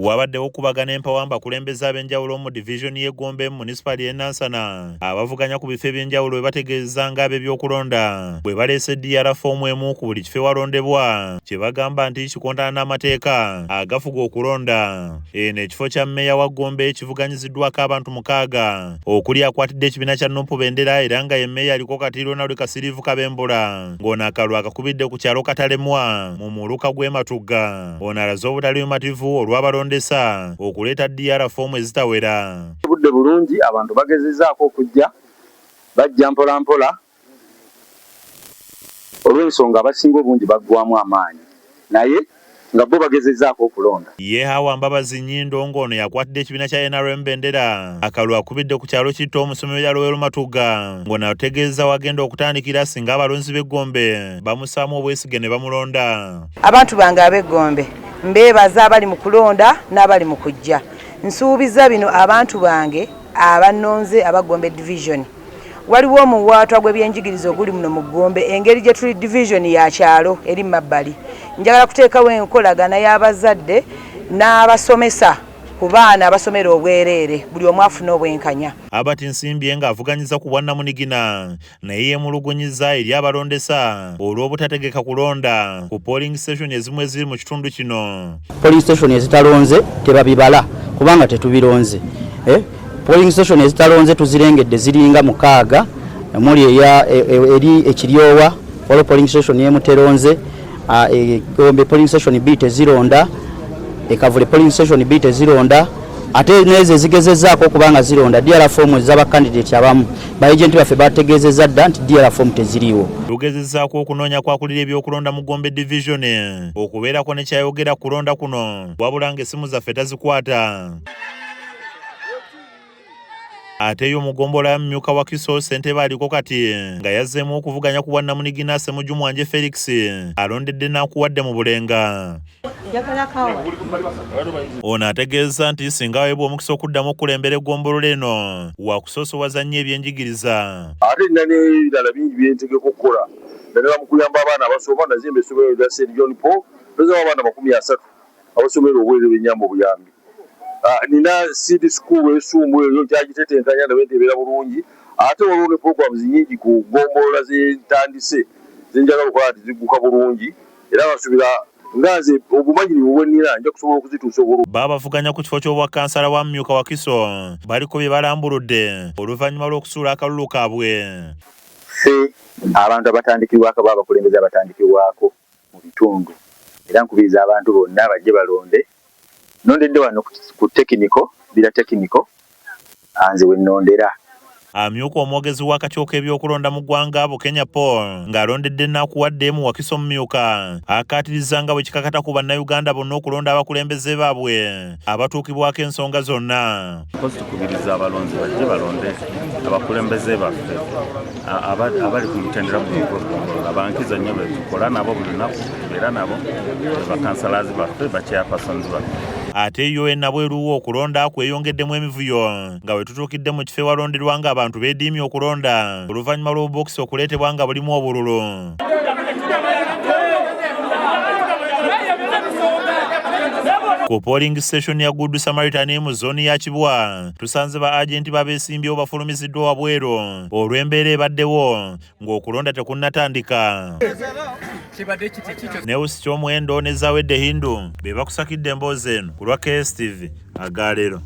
Wabaddewo okubagana empawa mu bakulembeze ab'enjawulo mu divizoni y'e Gombe mu munisipaali y'e Nansana abavuganya ku bifo eby'enjawulo bwe bategeeza ng'ab'ebyokulonda bwe baleese DR foomu emu ku buli kifo ewalondebwa kye bagamba nti kikontana n'amateeka agafuga okulonda. Eno ekifo kya mmeeya wa Gombe kivuganyiziddwako abantu mukaaga okuli akwatidde ekibiina kya Nup bendera era nga ye mmeeya aliko kati Ronald Kasiriivu Kabembula ng'ono akalulu akakubidde ku kyalo Katalemwa mu muluka gw'e Matugga. Ono alaze obutali bumativu olw'abalondesa okuleeta DR foomu ezitawera. Tubudde bulungi abantu bagezezaako okujja bajja mpolampola olw'ensonga abasinga obungi baggwamu amaanyi naye nga bbo bagezezaako okulonda. Ye Hawa Mbabazi Nyindo nga ono yakwatidde ekibiina kya nrm bendera akalulu akubidde ku kyalo Kitta omusomi we Yalowero Matugga nga ono ategeezeza wagenda okutandikira singa abalonzi be Gombe bamusaamu obwesige ne bamulonda. Abantu bange ab'e Gombe mbeebaza abali mu kulonda n'abali mu kujja. Nsuubizza bino abantu bange abannonze aba Gombe Division. Waliwo omuwaatwa gw'ebyenjigiriza oguli muno mu Gombe engeri gye tuli Division ya kyalo eri mabbali. Njagala kuteekawo enkolagana y'abazadde n'abasomesa ku baana abasomera obwereere buli omu afune obwenkanya. Herbert Nsimbye ng'avuganyiza ku bwannamunigina naye yemulugunyizza eri abalondesa olw'obutategeka kulonda ku polling station ezimu eziri mu kitundu kino. Polling station ezitalonze tebabibala kubanga tetubironze. Eh? Polling station ezitalonze tuzirengedde ziringa mukaaga omuli e, e, eri ekiryowa waliwo polling station yemuteronze Ah, e, Gombe polling station bbiri tezironda ekavule polling station bbiri tezironda ate nezo ezigezezaako okuba nga zironda dr fomu ezabakandidati abamu baagenti baffe bategeezezza dda nti dr fomu teziriiwo lugezezaako okunoonya kwakulira ebyokulonda mu gombe division okubeerako nekyayogera kulonda kuno wabula nga essimu zaffe tazikwata Ate yo mugombolola ya mumyuka wa Kiso Ssentebe aliko kati nga yazzeemu okuvuganya ku bwannamunigina Ssemujju Mwanje Felix alondedde n'akuwadde mu Bulenga. Ono ategeezza nti singa aweebwa omukisa okuddamu okukulembera eggombolola eno wakusoosowaza nnyo ebyenjigiriza. Ate nina n'ebirala bingi bye ntegeka okukola naddala mu kuyamba abaana abasoma. Nazimba essomero erya St John Paul, mpezaawo abaana amakumi asatu. abasomera obwereere benyamba obuyambi ah, nina seed school esumbu eyo nkyagitetenkanya ndabe nti ebeera bulungi ate waliwo ne programs nyingi ku gombolola zentandise zenjagala okukola nti zigguka bulungi era basubira nga nze obumanyirivu bwenina nja kusobola okuzituusa obulu Babavuganya ku kifo ky'obwa kansala wa mumyuka Wakiso baliko bye balambuludde oluvannyuma lw'okusuula akalulu kaabwe. Ffe abantu abatandikirwako aba abakulembeze abatandikirwako. mu bitundu era nkubiriza abantu bonna bajje balonde. Nnondedde wano ku tekiniko, Bbira Tekiniko, nze we nnondera. Amyuka omwogezi w'akakiiko k'ebyokulonda mu ggwanga, Bukenya Paul ng'alondedde Nakuwadde mu Wakiso Omumyuka akkaatirizza nga bwe kikakata ku Bannayuganda bonna okulonda abakulembeze baabwe. abatuukibwako ensonga zonna. Mpozi tukubiriza abalonzi bajje balonde abakulembeze baffe abali ku mutendera guno ogw'okugombolola bankizo nnyo betukola nabo buli lunaku era nabo bakansalazi baffe bakyapasonzi baffe ate yo enabweruwo okulonda kweyongeddemu emivuyo nga wetutuukidde mu kifo ewalonderwa nga abantu bediimye okulonda oluvannyuma lw'obubokisi okuleetebwa nga bulimu obululu ku polling station ya Good Samaritan mu zone ya Kibwa tusanze ba agent babesimbyewo bafulumiziddwa wabweru olw'embeera ebaddewo ng'okulonda tekunnatandika newusi ky'omuwendo ne zawedde hindu be bakusakidde emboozi eno ku lwa KSTV agaalero